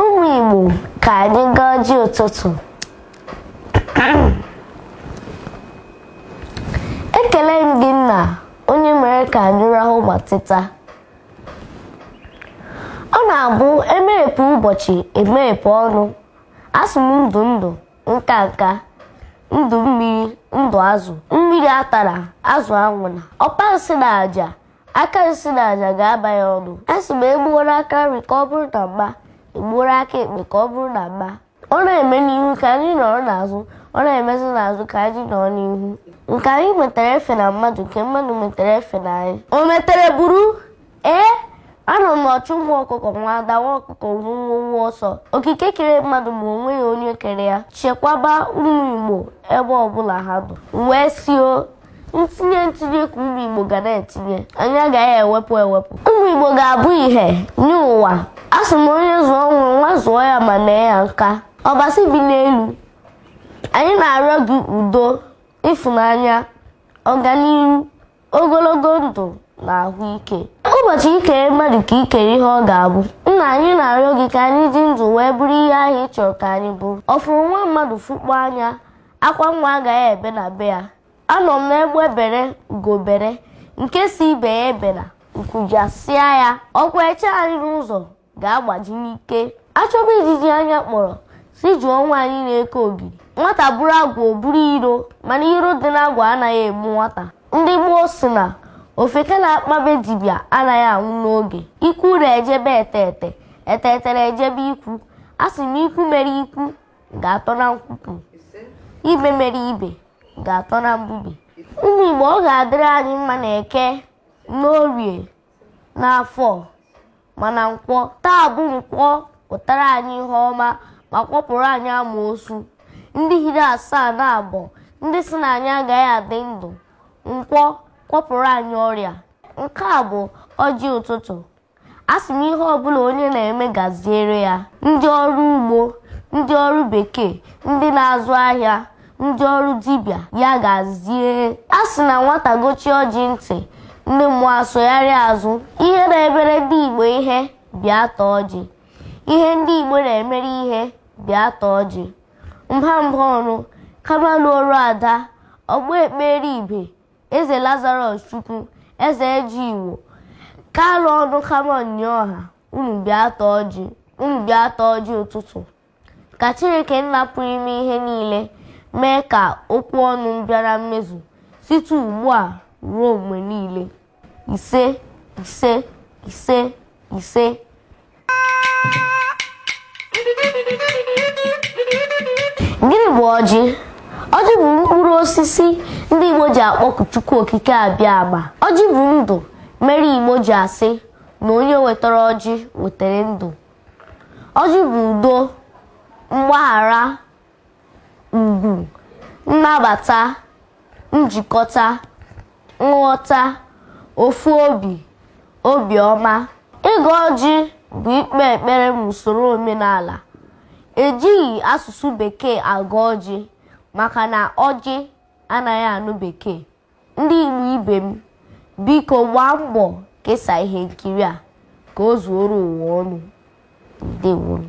ụmụ Igbo ka anyị gọọ ọjị ụtụtụ ekele m gị nna onye mere ka anyị rahụ ma teta ọ na-abụ e meghepụ ụbọchị e meghepụ ọnụ asị m ndụ ndụ nka nka ndụ mmiri ndụ azụ mmiri atana azụ anwụna ọpa nsi na aja aka nsi na aja ga-aba ya ọnụ asị m egbuwara aka nri ka ọ bụrụ na mma egbuwara aka ekpe ka ọ bụrụ na mma ọ na-eme n'ihu ka anyị nọrọ n'azụ ọ na-emezi n'azụ ka anyị nọrọ n'ihu nke anyị metara efena mmadụ nke mmadụ metara efena anyị o metere buru ee anụ m na ọchụ nwa ọkụkọ nwe ada nwa ọkụkọ nwe nwọ nwọ ọsọ okike kere mmadụ ma o nweghị onye kere ya chekwaba ụmụ igbo ebe ọbụla ha nọ wee sio ntinye ntinye ka ụmụ Igbo ga na-etinye anyị agaghị ewepụ ewepụ ụmụ Igbo ga-abụ ihe nye ụwa asị m onye zụọ nwa nwa zụọ ya ma nee ya nka ọbasi bi n'elu anyị na-arịọ gị udo ịfụnanya ọganiru ogologo ndụ na ahụ ike ụbọchị i kere mmadụ ka i kere ihe ọ ga-abụ nna anyị na-arịọ gị ka anyị dị ndụ wee bụrụ ihe ahụ ị chọrọ ka anyị bụrụ ọ fụrụ nwa mmadụ fụkpọọ anya akwa nwa agaghị ebe na be ya anụ m na egbe bere ugo bere nke sị ibe ya ebena nku jasịa ya ọkwa eche anyị n'ụzọ ga-agbaji n'ike a chọba ijiji anya kpọrọ sị jụọ nwaanyị na-eke ogiri nwata bụrụ agwa o buru iro mana iro dị n'agwa anaghị egbu nwata ndị gboo sị na ofeke na-akpa be dibịa anaghị anwụ n'oge ikwu ure ejebe eteete eteetere ejebe ikwu asị m ikwu mere ikwu ga-atọ na nkwukwu ibe mere ibe ga-atọ na mbibe ụmụ Igbo ọ ga-adịrị anyị mma na eke n'orie n'afọ ma na nkwọ taa bụ nkwọ pụtara anyị ihe ọma ma kwọpụrụ anyị amosu ndị hiri asaa na abọ ndị sị na anyị agaghị adị ndụ nkwọ kwọpụrụ anyị ọrịa nke a bụ ọjị ụtụtụ asị m ihe ọbụla onye na-eme gaziere ya ndị ọrụ ugbo ndị ọrụ bekee ndị na-azụ ahịa ndị ọrụ dibịa ya gazie a sị na nwata gọchie ọjị ntị ndị mmụọ asụgharịa azụ ihe na-emere ndị igbo ihe bịa taa ọjị ihe ndị igbo na-emere ihe bịa taa ọjị mba Mbaọnụ Kamalụ ọrụ ada ọgbọ ekpere ibe Eze Lazarus Chukwu, Eze Eji Igbo, Kalụ ọnụ Kamọn nye ọha, unu bịa taa ọjị, unu bịa taa ọjị ụtụtụ. Ka Chineke nna pụrụ ime ihe niile mee ka okwu ọnụ m bịa na mmezu site ugbu a ruo mgbe niile. Ise, ise, ise, ise. gịnị bụ ọjị ọjị bụ mkpụrụ osisi ndị igbo ji akpọku chukwu okike abịama ọjị bụ ndụ mere igbo ji asị na onye wetara ọjị wetara ndụ ọjị bụ udo mgbaghara ugwu nnabata njikọta nghọta ofu obi obiọma ịgọ ọjị bụ ikpe ekpere n'usoro omenala ejighị asụsụ bekee agọ ọjị maka na ọjị anaghị anụ bekee Ndị Igbo ibe m, biko gbaa mbọ kesa ihe nkiri a ka o zuoro ụwa ọnụ. Ndewonu.